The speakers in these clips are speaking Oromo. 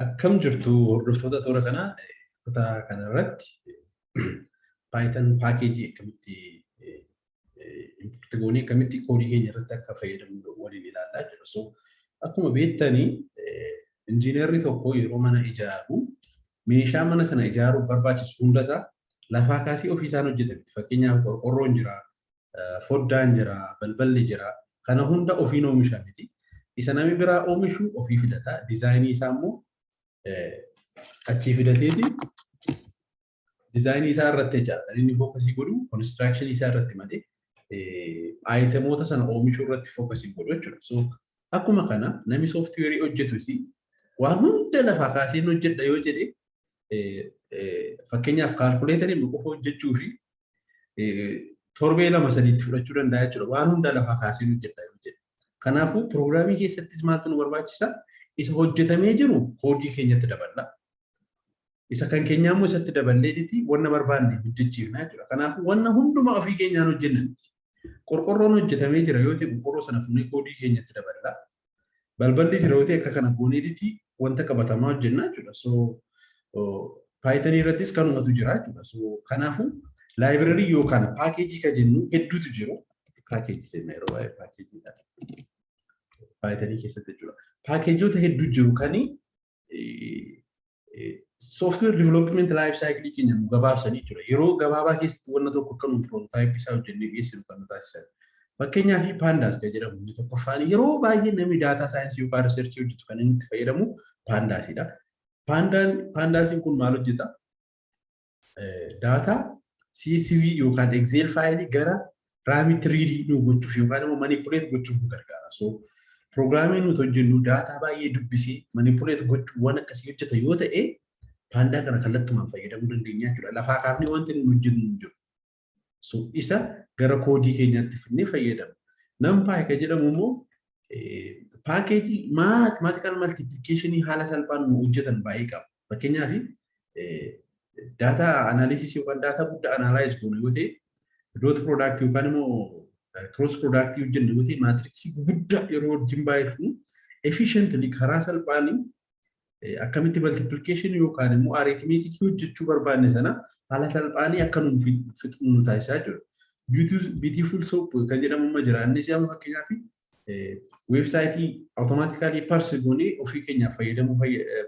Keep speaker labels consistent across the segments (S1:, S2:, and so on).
S1: Akkam jirtu hordoftoota toora kanaa kutaa kanarratti Python paakeejii akkamitti import goonee akkamitti koodii keenya irratti akka fayyadamnu waliin ilaalaa jira. So akkuma beektanii injiinarri tokko yeroo mana ijaaru meeshaa mana sana ijaaruuf barbaachisu hundasaa lafaa kaasee ofiisaan hojjetame. Fakkeenyaaf qorqorroon jira, foddaan jira, balballi jira. Kana hunda ofiin oomisha miti. Isa nami biraa oomishu ofii fidata. Dizaayinii isaa immoo achii fidateeti dizaayinii isaa irratti jechaadha. Kan inni fookasii godhu konistiraakshanii isaa irratti malee aayitemoota sana oomishuu irratti fookasii godhu jechuudha. So akkuma kana nami sooftiweerii hojjetus waan hunda lafaa kaasee hojjedha yoo jedhe fakkeenyaaf kaalkuleetarii qofa hojjechuu fi torbee lama sadiitti fudhachuu danda'a jechuudha. Waan hunda lafaa kaasee hojjedha yoo jedhe. Kanaafuu piroogiraamii keessattis maaltu nu barbaachisa? Isa hojjetamee jiru koodii keenyatti daballa. Isa kan keenyaa immoo isatti daballee dhiti wanna barbaanne hojjechiifna jechuudha. Kanaafuu wanna hundumaa ofii keenyaan hojjenna miti. Qorqorroon hojjetamee jira yoo ta'e qorqorroo sana fuunee koodii keenyatti daballa. Balballi jira yoo ta'e akka kana gooneetitti wanta qabatamaa hojjenna jechuudha. So Python irrattis kanumatu jira jechuudha. So kanaafuu laayibrarii yookaan paakeejii kan jennu hedduutu jiru. Paakeejii seenna yeroo baay'ee paakeejiidha. Python keessatti jechuudha. Paakeejoota hedduu jiru kani sooftiweer diivelopment laayif saayikilii keenya nu gabaabsanii jira. Yeroo gabaabaa keessatti wanna tokko akka nu piroototaayipii isaa hojjennee dhiyeessinu kan nu taasisan. Fakkeenyaaf paandaas kan jedhamu inni tokkoffaan yeroo baay'ee namni daataa saayinsii yookaan riisarchii hojjetu kan inni itti fayyadamu paandaasidha. Paandaan paandaasiin kun maal hojjeta? daataa CSV yookaan Excel faayilii gara raamitti riidii nu gochuuf yookaan immoo manipuleet gochuuf nu gargaara. So piroogiraamii nuti hojjennu daataa baay'ee dubbisee manipuleet gochuu waan akkasii hojjeta yoo ta'e paandaa kana kallattumaan fayyadamuu dandeenya jechuudha. Lafaa kaafnee wanti nuti hojjennu hin jiru. So isa gara koodii keenyaatti fidnee fayyadamna. Numpy kan jedhamu immoo paakeejii maatimaatikaal maltiipilikeeshinii haala salphaan nu hojjetan baay'ee qaba. Fakkeenyaaf daataa anaaliisisii yookaan daataa guddaa anaalaayiz goonu yoo ta'e doot piroodaaktii yookaan immoo kiroos piroodaaktii hojjennu yoo ta'e maatiriksii guddaa yeroo wajjin baay'ifnu efficiently karaa salphaan akkamitti multiplication yookaan immoo arithmetic hojjechuu barbaanne sana haala salphaanii akka nuuf fixnu nu taasisaa jiru. Beautiful soap kan jedhamu amma jira. Innis amma fakkeenyaaf weebsaayitii awutomaatikaalii parsi goonee ofii keenyaaf fayyadamuu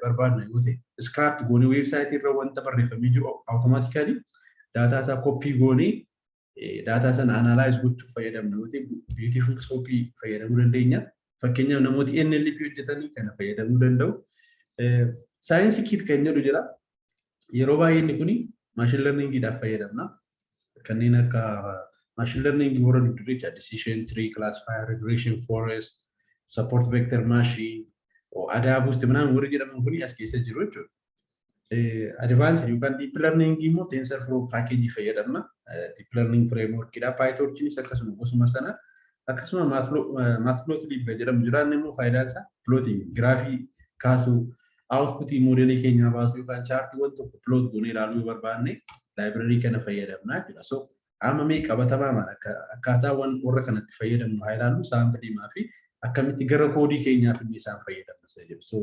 S1: barbaadna yoo ta'e iskiraap goonee weebsaayitii irra wanta barreeffamee jiru awutomaatikaalii daataa isaa koppii goonee daataa sana analyze gochuuf fayyadamna yoo ta'e beautiful soap fayyadamuu dandeenya. Fakkeenyaaf namooti NLP hojjetanii kana fayyadamuu danda'u. Saayinsii kiit kan jedhu jira. Yeroo baay'ee inni kun maashin lerningiidhaaf fayyadamna. Kanneen akka maashin lerningi warra duddureecha decision tree, classifier, regression, forest, support vector machine, adaa buusti minaan warri jedhaman kun as keessa jiru jechuudha. Advanced yookaan deep learning immoo TensorFlow package fayyadamna. Deep learning framework dha. PyTorchinis akkasuma gosuma sana. Akkasuma Matplotlib kan jedhamu jira. Inni immoo faayidaan isaa plotting, giraafii kaasuu, outputii moodeelii keenyaa baasuu yookaan chaartiiwwan tokko plot goonee ilaaluu yoo barbaanne laayibrarii kana fayyadamna jechuudha. So Amma mee qabatamaamaan akka akkaataa wan warra kanatti fayyadamnu haa ilaallu saamplii maafi akkamitti gara koodii keenyaa fidnee isaan fayyadamna isa jedhu. So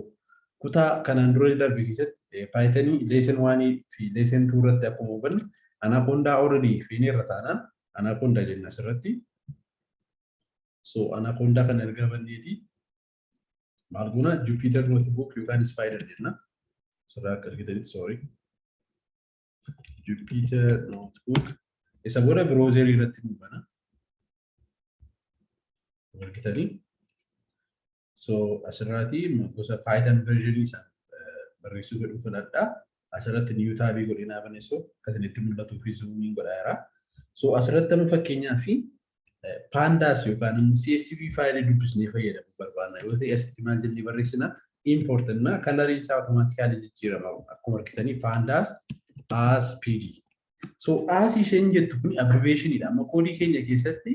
S1: kutaa kanaan dura darbe keessatti paayitanii leesen waanii fi leesen tuu irratti akkuma hubanne anaakoondaa already feenee irra taanaan anaakoondaa jenna asirratti. So anaakoondaa kana erga banneeti maal goona Jupyter notebook yookaan spider jenna. Sirraa akka argitanitti sorry. Jupyter Notebook isa booda browser irratti nu bana. Argitanii? So asirraati gosa Python version isa barreessuu godhu filadha. Asirratti new tab godhinaa baneessoo akkasinitti mul'atuuf fi zoomiin godhaa jira. So asirratti amma fakkeenyaaf Pandas yookaan immoo CSV faayilii dubbisnee fayyadamu barbaanna yoo ta'e asitti maal jennee barreessina import na kalariin isaa automaatikaalii jijjiirama akkuma argitanii pandas as pd. So as isheen jettu kun abbreviation dha amma koodii keenya keessatti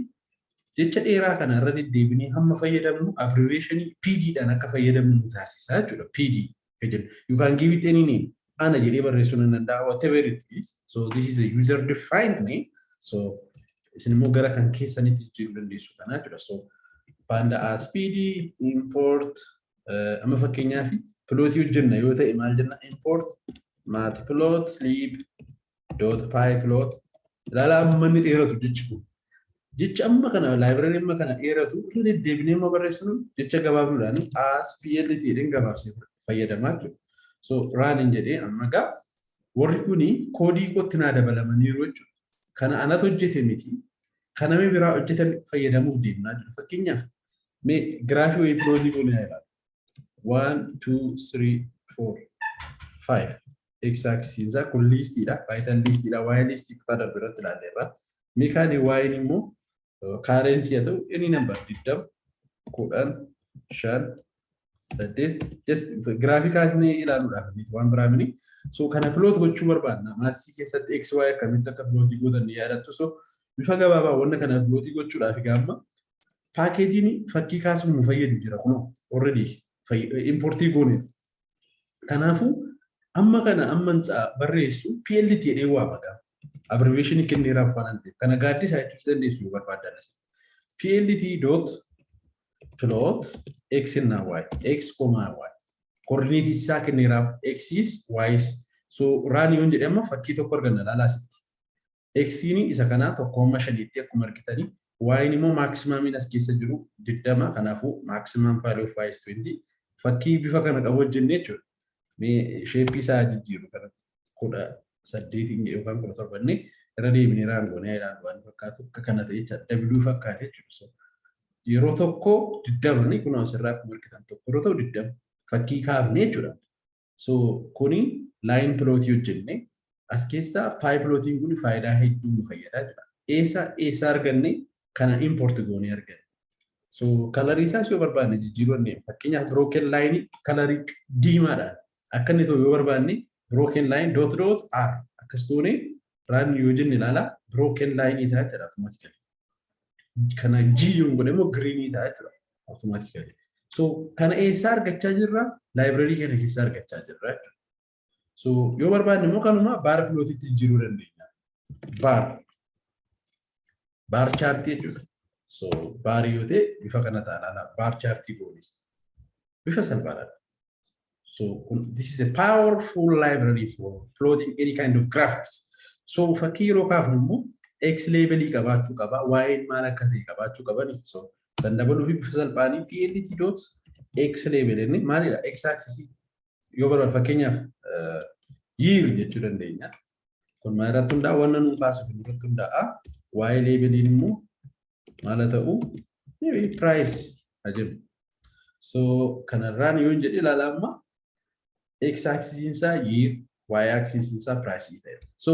S1: jecha dheeraa kana irra deddeebinee hamma fayyadamnu abbreviation pd dhaan akka fayyadamnu nu taasisa jechuudha pd ka jedhu. You can give it any name. Ana jedhee barreessuu nan danda'a whatever it is. So this is a user defined name. So isin immoo gara kan keessanitti jijjiiruu dandeessu kana jechuudha. So panda as pd import eh, amma fakkeenyaaf pilootii hojjenna yoo ta'e maal jenna import matplot lib dot py plot ilaala amma inni dheeratu jechi kun jecha amma kana laayibrari amma kana dheeratu irra deddeebinee amma barreessinu jecha gabaabduudhaan as plt jedheen gabaabsee fayyadamaa jiru so raaniin jedhee amma gaa warri kuni koodii kootti naa dabalamaniiru jechuudha kana anatu hojjete miti kana mee biraa hojjetan fayyadamuuf deemnaa jiru fakkeenyaaf mee giraafii wayii pilootii goonee ilaala one two three four five x axisiin isaa kun liistiidha paayitan liistiidha waa'ee liistii kutaa darbe irratti ilaalleerra miikaanii waa'een immoo kaareensii haa ta'u inni nambar digdam kudhan shan saddeet just giraafii kaasnee ilaaluudhaaf miti waan biraa mini so kana piloot gochuu barbaadna maassii keessatti x y akkamitti akka pilootii gootan ni yaadattu so bifa gabaabaa wanna kana pilootii gochuudhaaf gaamma paakeejiin fakkii kaasuuf nu fayyadu jira kunoo already importii goone Kanaafuu amma kana amman barreessu PLT jedhee waama gaa. Abbreviation kenneeraaf waan ta'eef kana gaaddisaa jechuus dandeessu yoo barbaaddan. PLT dot plot x na y x comma y coordinate isaa kenneeraaf x is y is so run yoon jedhe amma fakkii tokko arganna laala asitti. Xni isa kanaa 1,5 tti akkuma argitani y'n immoo maaksimaamiin as keessa jiru 20 kanaafuu maximum value of y is 20 fakkii bifa kana qabu hojjenne jechuudha. Mee sheeppii isaa haa jijjiirru kana 18 yookaan 17 inni irra deebinee raan goonee haa ilaallu waan fakkaatu akka kana ta'e jechaadha. W fakkaate jechuudha. Yeroo tokko 20 ni kunoo asirraa akkuma argitan tokko yeroo ta'u 20 fakkii kaafne jechuudha. So kuni line plot hojjenne as keessa pie plotiin kun faayidaa hedduu nu fayyadaa jira. Eessa eessa arganne kana import goonee arganne. So kalarii isaas yoo barbaanne jijjiiruu dandeenya. Fakkeenyaaf broken line kalarii diimaadhaan akka inni ta'u yoo barbaanne broken line dot dot r akkas goonee raan yoo jenne ilaala broken line ta'a jira automatically. Kana G yoo godhe immoo green ta'a jira. Automatically. So kana eessaa argachaa jirra? Library kana keessaa argachaa jirra. So yoo barbaanne immoo kanuma baar pilootitti jijjiiruu dandeenya. Baar. Baar chaartii jechuudha. So baarii yoo ta'e bifa kana taanaan baar chaartii goonis. Bifa salphaadhaan. So this is a powerful library for plotting any kind of graphics. So fakkii yeroo kaafnu immoo X labelii qabaachuu qaba, Y maal akka ta'e qabaachuu qaba. So kan dabaluu fi bifa salphaanii plt dot X label inni maalidha? X axis yoo bara fakkeenyaaf year jechuu dandeenya. Kun maal irratti hundaa'a? Wanna nuun kaasuuf irratti hundaa'a. Waa'ee leebeliin immoo maal haa ta'u? Maybe price haa jennu. So kanarraan yoo hin jedhe ilaala amma x axis isaa year y axis isaa price ta'e. So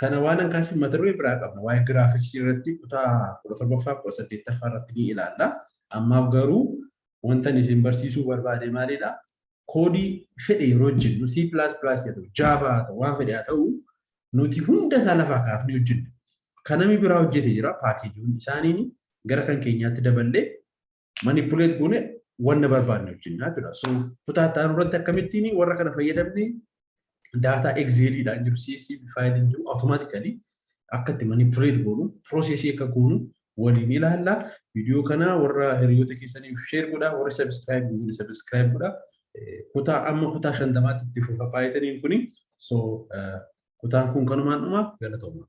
S1: kana waan hin kaasiin mata duree biraa qabna. Waa'ee giraafiksii irratti kutaa kudha torbaffaa kudha saddeettaffaa irratti ni ilaalla. Ammaaf garuu wanta isin barsiisuu barbaade maalidha? koodii fedhe yeroo hojjennu C++ haa ta'u Java haa ta'u waan fedhe haa ta'u nuti hunda isaa lafaa kaafnee hojjenna. Kan namni biraa hojjete jira paakeejiiwwan isaaniin gara kan keenyaatti daballee manipuleet goone wanna barbaanne hojjennaa jira. So kutaa itti aanu irratti akkamittiin warra kana fayyadamne daataa egzeeliidhaan jiru CSV faayiliin jiru awutomaatikali akka itti manipuleet goonu piroosesii akka goonu waliin ilaalla. Viidiyoo kana warra hiriyoota keessaniif sheer godhaa warri sabiskiraayib goone sabiskiraayib godhaa. Kutaa amma kutaa shantamaatti itti fufa paayitaniin kuni so kutaan kun kanumaan dhuma galatoomaa.